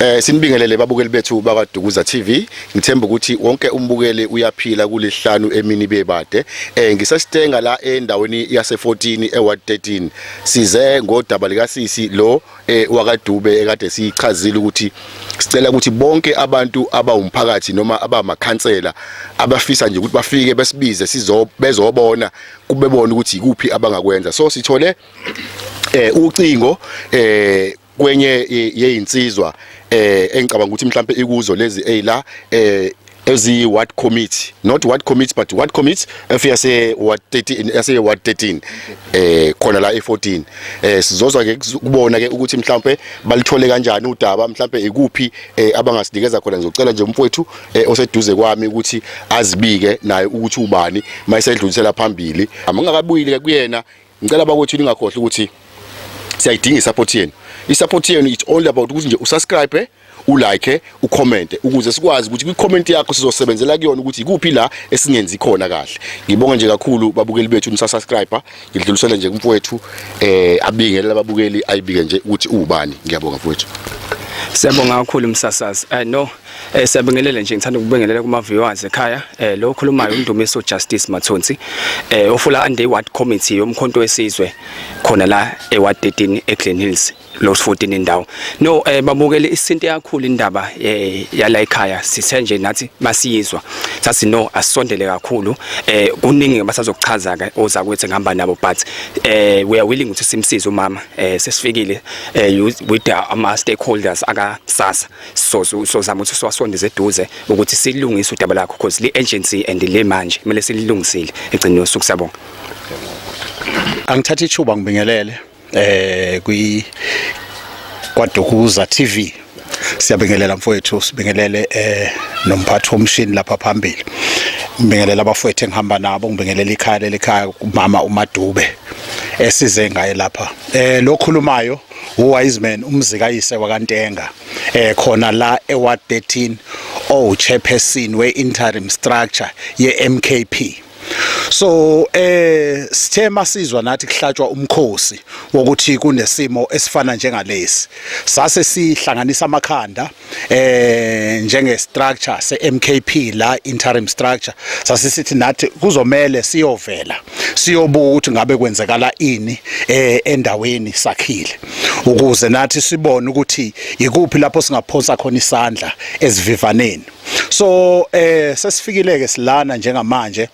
Eh sinibingelele babukeli bethu bakwaDukuza TV. Ngithemba ukuthi wonke umbukeli uyaphila kulihlanu emini bebade. Eh ngiseStenga la endaweni yase14 eWard 13. Size ngodaba lika sisi lo eh wakaDube ekade sichazile ukuthi sicela ukuthi bonke abantu abawumphakathi noma abamakhansela abafisa nje ukuthi bafike besibize sizo bezobona kubebona ukuthi ikuphi abangakwenza. So sithole eh ucingo eh kwenye yeyinsizwa eh engicabanga ukuthi mhlambe ikuzo lezi eyila eh eziyi ward committee not ward committee but ward committee efiyase ward 13 yase ward 13 eh khona la e14 eh sizozwa ke kubona ke ukuthi mhlambe balithole kanjani udaba mhlambe ikuphi eh, abangasinikeza khona ngizocela nje umfowethu eh, oseduze kwami ukuthi azibike naye ukuthi ubani mayisedlulisela phambili amangakabuyile kuyena Ngicela bakwethu ningakhohlwa ukuthi siyayidinga isupport yenu. Isupport yenu it's only about ukuthi nje usubscribe ulike ucommente ukuze sikwazi ukuthi kwicomment yakho sizosebenzela kuyona ukuthi ikuphi la esingenzi khona kahle ngibonga nje kakhulu babukeli bethu nisasubscriber ngidlulisele nje kumfowethu eh abingelele ababukeli ayibike nje ukuthi ubani ngiyabonga mfowethu Siyabonga kakhulu msasazi. I know Eh siyabingelela nje ngithanda ukubingelela kuma viewers ekhaya eh lo okhulumayo uMndumiso Justice Mathonsi eh ofula under ward committee yomkhonto wesizwe khona la eward 13 eGlen Hills lo 14 indawo no eh babukele isinto yakhulu indaba eh yala ekhaya sithe nje nathi masiyizwa sathi no asondele kakhulu eh kuningi abasazokuchaza ke oza kwethe ngihamba nabo but eh we are willing ukuthi simsize umama eh sesifikile eh with our stakeholders aka sasa so sozama ukuthi siwasondeze eduze ukuthi silungise udaba lakho because le agency and le manje kumele sililungisile egcine yosuku sabonga angithatha ithuba ngibingelele eh kwi kwaDukuza TV siyabingelela mfowethu sibingelele eh nomphathi womshini lapha phambili ngibingelela abafowethu engihamba nabo ngibingelela ikhaya lelikhaya umama uMadube esize ngaye lapha eh lokhulumayo uwise man umzikayise wakantenga eh khona la eward 13 oh chairperson we interim structure ye MKP so eh sithe masizwa nathi kuhlatshwa umkhosi wokuthi kunesimo esifana njengalesi sase sihlanganisa amakhanda eh njenge structure se MKP la interim structure sasisithi nathi kuzomela siyovela siyobuka ukuthi ngabe kwenzekala ini eh endaweni sakhile ukuze nathi sibone ukuthi yikuphi lapho singaphonsa khona isandla esivivaneni so eh sesifikile ke silana njengamanje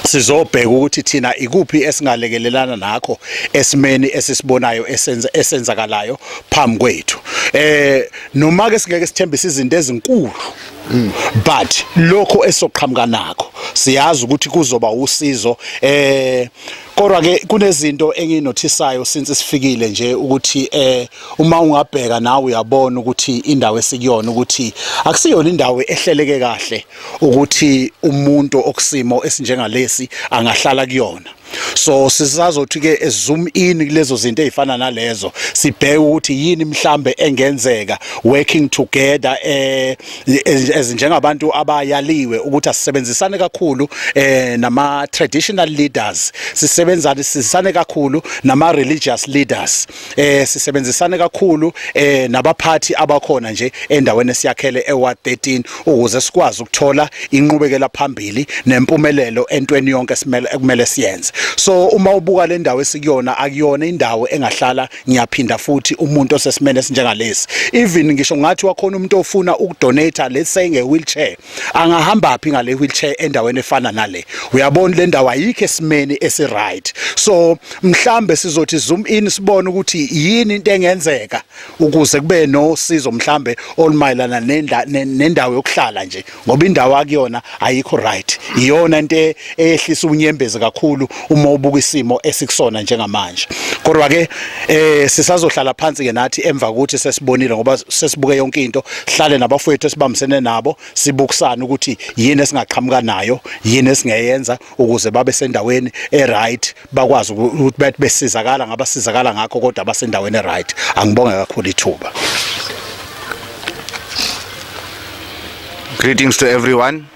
sizobheka ukuthi thina ikuphi esingalekelelana nakho esimeni esisibonayo esenza esenzakalayo phambi kwethu eh noma ke singeke sithembise izinto ezinkulu but lokho esoqhamuka nakho siyazi ukuthi kuzoba usizo eh kodwa ke kunezinto enginothisayo since sifikile nje ukuthi eh uma ungabheka nawe uyabona ukuthi indawo esikuyona ukuthi akusiyona indawo ehleleke kahle ukuthi umuntu okusimo esinjengalesi angahlala kuyona so sisazothi ke zoom in kulezo zinto ezifana nalezo sibheke ukuthi yini mhlambe engenzeka working together eh ezinjengabantu abayaliwe ukuthi asisebenzisane kakhulu eh nama traditional leaders sisebenzane sisane kakhulu nama religious leaders eh sisebenzisane kakhulu eh nabaphathi abakhona nje endaweni esiyakhele eWard 13 ukuze sikwazi ukuthola inqubekela phambili nempumelelo entweni yonke simele ekumele siyenze so uma ubuka le ndawo esikuyona akuyona indawo engahlala ngiyaphinda futhi umuntu osesimene esinjengalesi even ngisho ngathi wakhona umuntu ofuna ukudonate let's say nge wheelchair angahamba phi ngale wheelchair endaweni efana nale uyabona le ndawo ayikho esimeni esi right so mhlambe sizothi zoom in sibone ukuthi yini into engenzeka ukuze kube no sizo mhlambe olumayelana nendawo yokuhlala nje ngoba indawo akuyona ayikho right iyona into eyehlisa unyembezi kakhulu uma ubuka isimo esikusona njengamanje kodwa ke eh sisazohlala phansi ke nathi emva kokuthi sesibonile ngoba sesibuke yonke into hlale nabafowethu esibambisene nabo sibukusana ukuthi yini esingaqhamuka nayo yini esingeyenza ukuze babe sendaweni eright bakwazi ukuthi bathi besizakala ngabasizakala ngakho kodwa basendaweni eright angibonge kakhulu ithuba Greetings to everyone.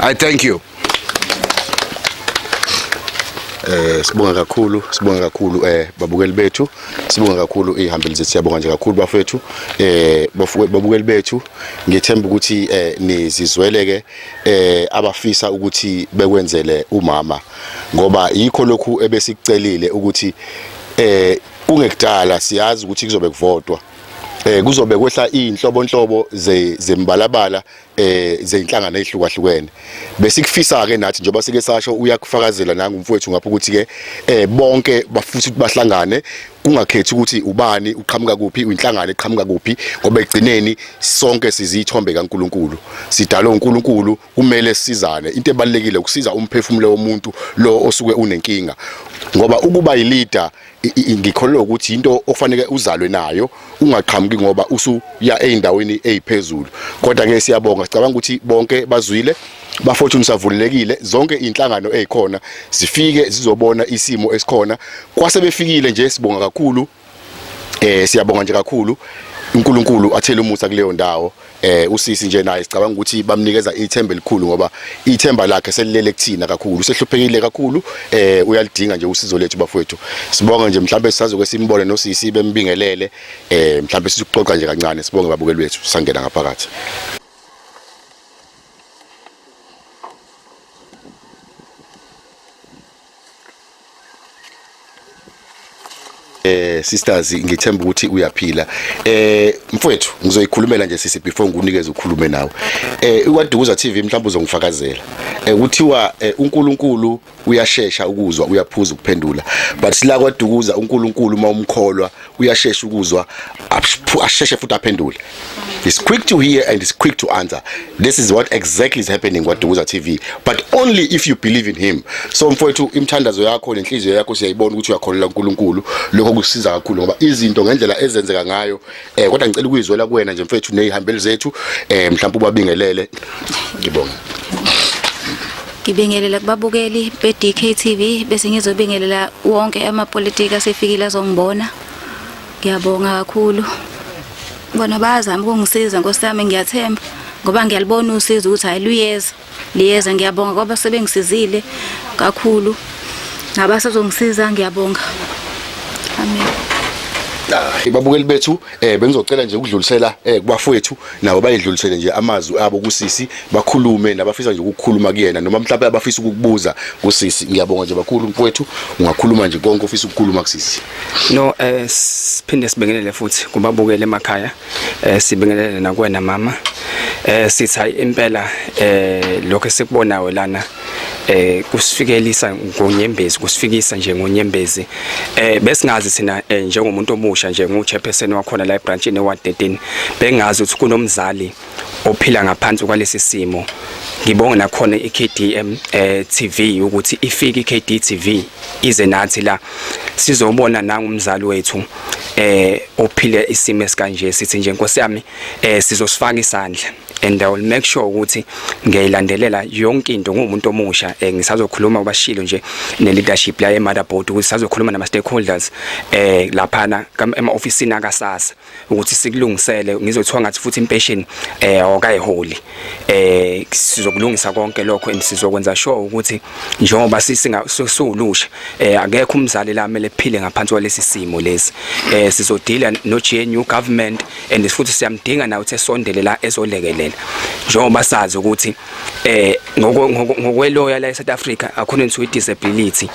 I thank you. Eh sibonga kakhulu, sibonga kakhulu eh babukeli bethu, sibonga kakhulu ihambeli zethu siyabonga nje kakhulu bafethu. Eh babukeli bethu ngiyethemba ukuthi eh nizizwele ke eh abafisa ukuthi bekwenzele umama ngoba yikho lokhu ebesikucelile ukuthi eh kungekudala siyazi ukuthi kuzobe kuvotwa eh kuzobe kwehla inhlobonhlobo zembalabala eh zeinhlangano ezihlukahlukene bese kufisa ke nathi njengoba sike sasho uyakufakazela nangu mfowethu ngapha ukuthi ke eh bonke bafuthi ukuthi bahlangane kungakhethi ukuthi ubani uqhamuka kuphi uyinhlangano eqhamuka kuphi ngoba egcineni sonke sizithombe kaNkuluNkulu sidalwe uNkuluNkulu kumele sizane into ebalekile ukusiza umphefumulo womuntu lo osuke unenkinga ngoba ukuba yileader ngikholelwa ukuthi into okufanele uzalwe nayo ungaqhamuki ngoba usuya ezindaweni eziphezulu kodwa ke siyabonga sicabanga ukuthi bonke bazwile bafortune savulelekile zonke inhlangano ezikhona zifike zizobona isimo esikhona kwase befikile nje sibonga kakhulu eh siyabonga nje kakhulu uNkulunkulu athele umusa kuleyo ndawo eh usisi nje naye sicabanga ukuthi bamnikeza ithemba elikhulu ngoba ithemba lakhe selilele kuthina kakhulu usehluphekile kakhulu eh uyalidinga nje usizo lethu bafowethu sibonga nje mhlawumbe sisazoke simbone nosisi bembingelele eh mhlawumbe sisuxoxa nje kancane sibonge babukeli bethu sangena ngaphakathi eh sisters ngithemba ukuthi uyaphila eh mfwethu ngizoyikhulumela nje sisi before ngikunikeze ukhulume nawe eh ikwadukuza TV mhlawumbe uzongifakazela eh kuthiwa eh, uNkulunkulu uyashesha ukuzwa uyaphuza ukuphendula but sila kwadukuza uNkulunkulu uma umkholwa uyashesha ukuzwa asheshe futhi aphendule It's quick to hear and it's quick to answer. This is what exactly is happening with Duguza TV. But only if you believe in him. So mfowethu imthandazo yakho nenhliziyo yakho siyayibona ukuthi uyakholelwa uNkulunkulu. Lokho kusiza kakhulu ngoba izinto ngendlela ezenzeka ngayo eh kodwa ngicela ukuyizwela kuwena nje mfowethu nezihambeli zethu eh mhlawumbe ubabingelele. Ngibonga. Ngibingelela kubabukeli be-DKTV bese ngizobingelela wonke amapolitiki asefikile azongibona. Ngiyabonga kakhulu. Bona bayazama ukungisiza Nkosi yami ngiyathemba ngoba ngiyalibona usizo ukuthi hayi luyeza. Liyeza ngiyabonga kwaba sebengisizile kakhulu. Nabasazongisiza ngiyabonga. Amen. Hayi babukeli bethu Eh bengizocela nje ukudlulisela eh kubafowethu nabo bayidlulisele nje amazwi abo kusisi bakhulume nabafisa nje ukukhuluma kuyena noma mhlawumbe abafisa ukukubuza kusisi ngiyabonga nje bakhulu mfowethu ungakhuluma nje konke ofisa ukukhuluma kusisi No eh siphinde sibingelele futhi kubabukele emakhaya eh sibingelele nakwena mama eh sithi hayi impela eh lokho esikubonayo lana eh kusifikelisa ngonyembezi kusifikisa nje ngonyembezi eh besingazi sina eh, njengomuntu omusha nje nguchairperson wakhona la ebranch ne ward 13 bengazi ukuthi kunomzali ophila ngaphansi kwalesi simo ngibonga nakhona iKDM eh TV ukuthi ifike iKD TV ize nathi la sizobona nangumzali wethu eh ophile isimo esikanje sithi nje Nkosi yami eh sizosifaka isandla and I will make sure ukuthi ngiyayilandelela yonke into ngumuntu omusha eh, ngisazokhuluma ubashilo nje ne leadership la eMother Board ukuthi sazokhuluma nama stakeholders eh laphana ema office na kasasa ukuthi sikulungisele ngizothiwa ngathi futhi impatient eh okayiholi eh sizokulungisa konke lokho and sizokwenza sure ukuthi njengoba sisinga sulusha eh akekho umzali la mele phile ngaphansi kwalesi simo lesi eh sizodila no GNU government and futhi siyamdinga nawe ukuthi esondele la ezolekelela njengoba sazi ukuthi eh ngokweloya la eSouth Africa according to disability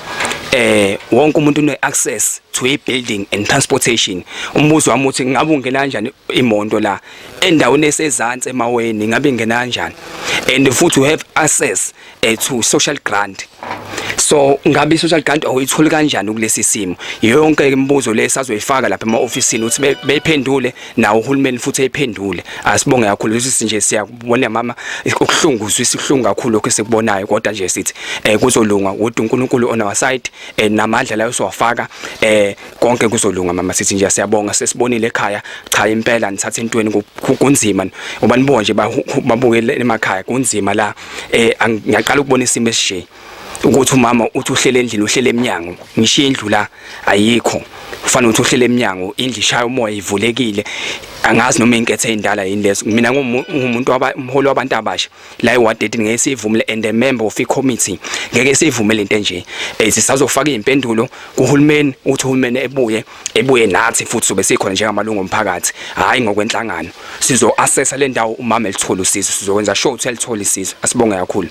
eh wonke umuntu une access to a building and transportation umbuzo wami uthi ngabe ungena kanjani imoto la endaweni esezantsi emaweni ngabe ingena kanjani and futhi you have access eh, to social grant so ngabe social grant awuyitholi kanjani kulesi simo yonke imibuzo le sazoyifaka lapha ema-ofisini ukuthi beyiphendule nawo uhulumeni futhi eyiphendule asibonge kakhulu lesi nje siyakubona mama ukuhlungu uzwisa ihlungu kakhulu lokho esikubonayo kodwa nje sithi um kuzolunga kodwa unkulunkulu on our side um namandla layo siwafaka um konke kuzolunga mama sithi nje siyabonga sesibonile ekhaya cha impela nithatha entweni kunzima uba nibo nje babuke emakhaya kunzima la eh ngiyaqala ukubona isimo esishe ukuthi umama uthi uhlele endlini uhlele eminyango ngishiye indlu la ayikho ufana uthi uhlele eminyango indlu ishaya umoya ivulekile angazi noma inkethe endala yini leso mina ngumuntu waba umholi wabantu abasha la ewa 13 ngeke sivumele and a member of committee ngeke sivumele into enje eh sisazofaka izimpendulo kuhulumeni uthi uhulumeni ebuye ebuye nathi futhi sobe sikhona njengamalungu omphakathi hayi ngokwenhlangano sizo assessa le ndawo umama elithola usizo sizokwenza sure ukuthi elithola isizo asibonge kakhulu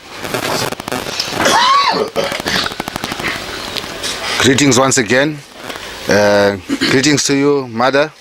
Greetings once again. Uh, greetings to you, mother.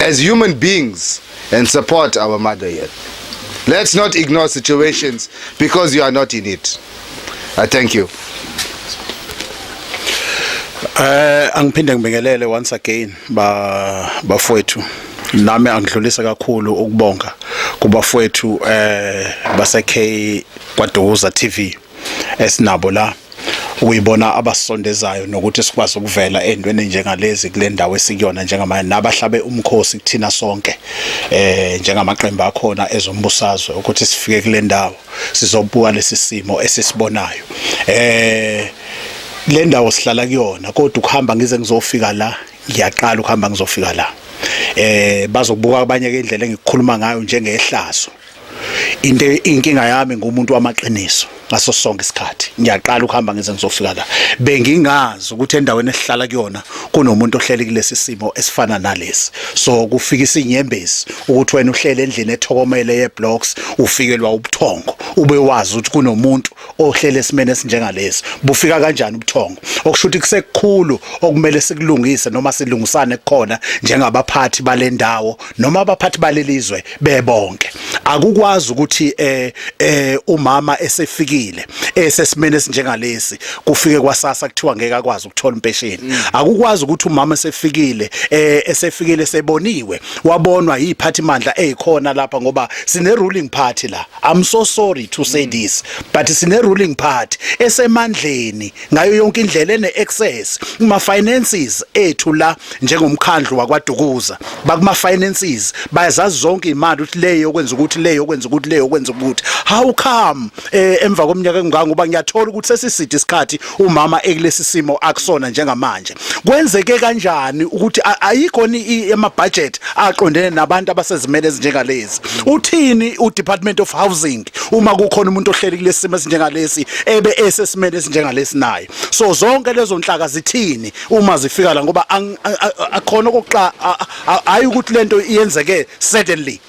as human beings and support our mother here. Let's not ignore situations because you are not in it. I thank you. Eh angiphinde ngibingelele once again ba bafowethu nami angidlulisa kakhulu ukubonga kubafowethu eh base K kwaDuza TV esinabo la ukuyibona abasondezayo nokuthi sikwazi ukuvela endweni njengalezi kule ndawo esikuyona njengamanje nabahlabe umkhosi kuthina sonke eh njengamaqembu akhona ezombusazwe ukuthi sifike kule ndawo sizobuka lesi simo esisibonayo eh le ndawo sihlala kuyona kodwa ukuhamba ngize ngizofika la ngiyaqala ukuhamba ngizofika la eh bazobuka abanye ke indlela engikukhuluma ngayo njengehlazo into inkinga yami ngumuntu wamaqiniso ngaso sonke isikhathi ngiyaqala ukuhamba ngize ngizofika la bengingazi ukuthi endaweni esihlala kuyona kunomuntu ohleli kulesi simo esifana nalesi so kufika isinyembezi ukuthi wena uhlele endlini ethokomele yeblocks ufikelwa ubuthongo ube wazi ukuthi kunomuntu ohlele esimene esinjengalesi bufika kanjani ubuthongo okusho ukuthi kusekukhulu okumele sikulungise noma silungisane kukhona njengabaphathi balendawo noma abaphathi balelizwe bebonke akukwazi ukuthi eh eh umama esefikile esesimene esinjengalesi kufike kwasasa kuthiwa ngeke akwazi ukuthola impesheni mm. akukwazi ukuthi umama esefikile eh esefikile seboniwe wabonwa yiphathi mandla ezikhona lapha ngoba sine ruling party la I'm so sorry to say this but sine ruling party esemandleni ngayo yonke indlela ene access kuma finances ethu la njengomkhandlu wakwaDukuza bakuma finances bayazazi zonke imali ukuthi leyo okwenza ukuthi leyo okwenza ukuthi leyo okwenza ukuthi how come eh, emva komnyaka engangoba ngiyathola ukuthi sesiside isikhathi umama ekulesi simo akusona njengamanje kwenzeke kanjani ukuthi ayikho ni ama budget aqondene nabantu abasezimele ezinjengalezi uthini u Department of Housing uma kukhona umuntu ohleli kulesi simo esinjengalesi ebe esesimele esinjengalesi naye so zonke lezo nhlaka zithini uma zifika la ngoba akhona okuxa hayi ukuthi lento iyenzeke suddenly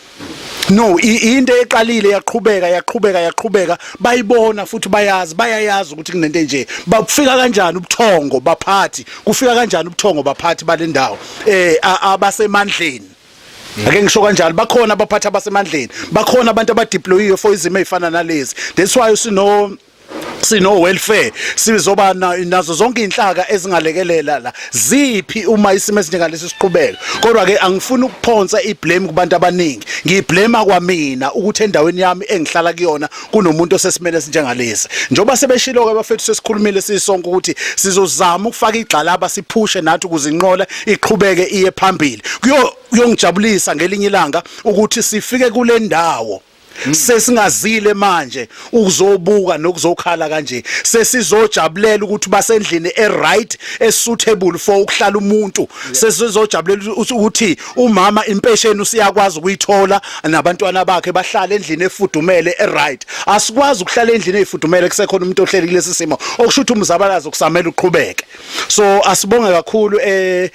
no into eqalile yaqhubeka yaqhubeka yaqhubeka bayibona futhi bayazi bayayazi ukuthi kunento enje bakufika kanjani ubuthongo baphathi kufika kanjani ubuthongo baphathi balendawo eh abasemandleni ake ngisho kanjalo bakhona abaphathi abasemandleni bakhona abantu abadeployiwe for izimo ezifana nalezi that's why usino sino welfare sizoba nazo zonke inhlaka ezingalekelela la ziphi uma isimo esinjengalesi siqhubeka kodwa ke angifuni ukuphonsa iblame kubantu abaningi ngiyiblame kwamina ukuthi endaweni yami engihlala kuyona kunomuntu osesimene esinjengalesi njoba sebeshilo ke bafethu sesikhulumile sisonke ukuthi sizozama ukufaka igxalaba siphushe nathi ukuzinqola iqhubeke iye phambili kuyo kuyongijabulisa ngelinye ilanga ukuthi sifike kule ndawo Hmm. sesingazile manje ukuzobuka nokuzokhala kanje sesizojabulela ukuthi basendlini eright esuitable for ukuhlala umuntu sesizojabulela ukuthi umama impesheni usiyakwazi ukuyithola nabantwana bakhe bahlale endlini efudumele eright asikwazi ukuhlala endlini efudumele kusekhona umuntu ohleli kulesi simo okusho ukuthi umzabalazo kusamele uqhubeke so asibonge kakhulu eh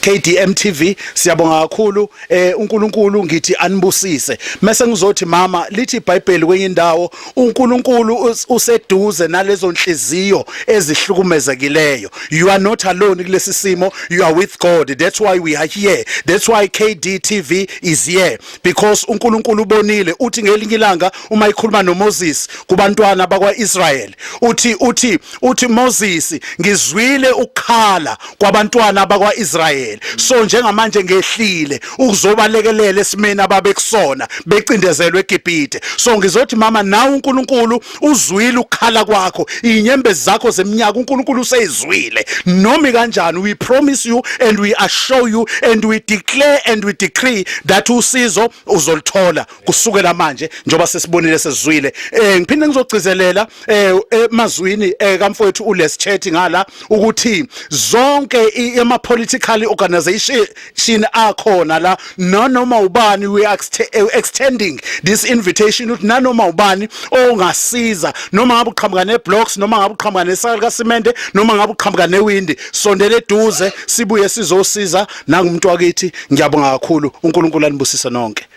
KDM TV siyabonga kakhulu eh uNkulunkulu ngithi anibusise mase ngizothi mama lithi iBhayibheli kwenye indawo uNkulunkulu useduze nalezo nhliziyo ezihlukumezekileyo you are not alone kulesi simo you are with God that's why we are here that's why KD TV is here because uNkulunkulu ubonile uthi ngelinye ilanga uma ikhuluma noMoses kubantwana bakwaIsrael uthi uthi uthi Moses ngizwile ukukhala kwabantwana bakwaIsrayeli so njengamanje ngehlile ukuzobalekelela esimeni ababekusona becindezelwe eGibhide so ngizothi mama nawe uNkulunkulu uzwile ukukhala kwakho inyembezi zakho zeminyaka uNkulunkulu useyizwile nomi kanjani we promise you and we assure you and we declare and we decree that usizo uzolithola kusukela manje njengoba sesibonile sesizwile eh ngiphinde ngizogcizelela eh emazwini eh, kamfowethu uLes Chetty ngala ukuthi zonke ama political organization akhona la nanoma ubani we are eh, extending this invitation ukuthi nanoma ubani ongasiza noma ngabe uqhamuka ne blocks noma ngabe uqhamuka ne saka ka cement noma ngabe uqhamuka ne wind sondele eduze sibuye sizosiza nangumuntu wakithi ngiyabonga kakhulu uNkulunkulu anibusise nonke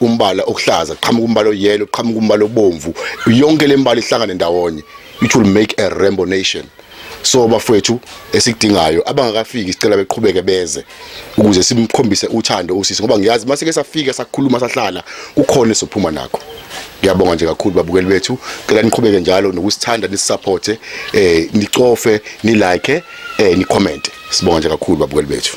umbala okuhlaza qhamuka umbala oyelo qhamuka umbala obomvu yonke le mbala ihlangane ndawonye it will make a rainbow nation so bafowethu esikudingayo abangakafiki sicela beqhubeke beze ukuze simkhombise uthando usisi ngoba ngiyazi mase ke safika sakhuluma sahlala kukhona sophuma nakho ngiyabonga nje kakhulu babukeli bethu cela niqhubeke njalo nokusithanda nisupporte eh nicofe ni like eh ni comment sibonga nje kakhulu babukeli bethu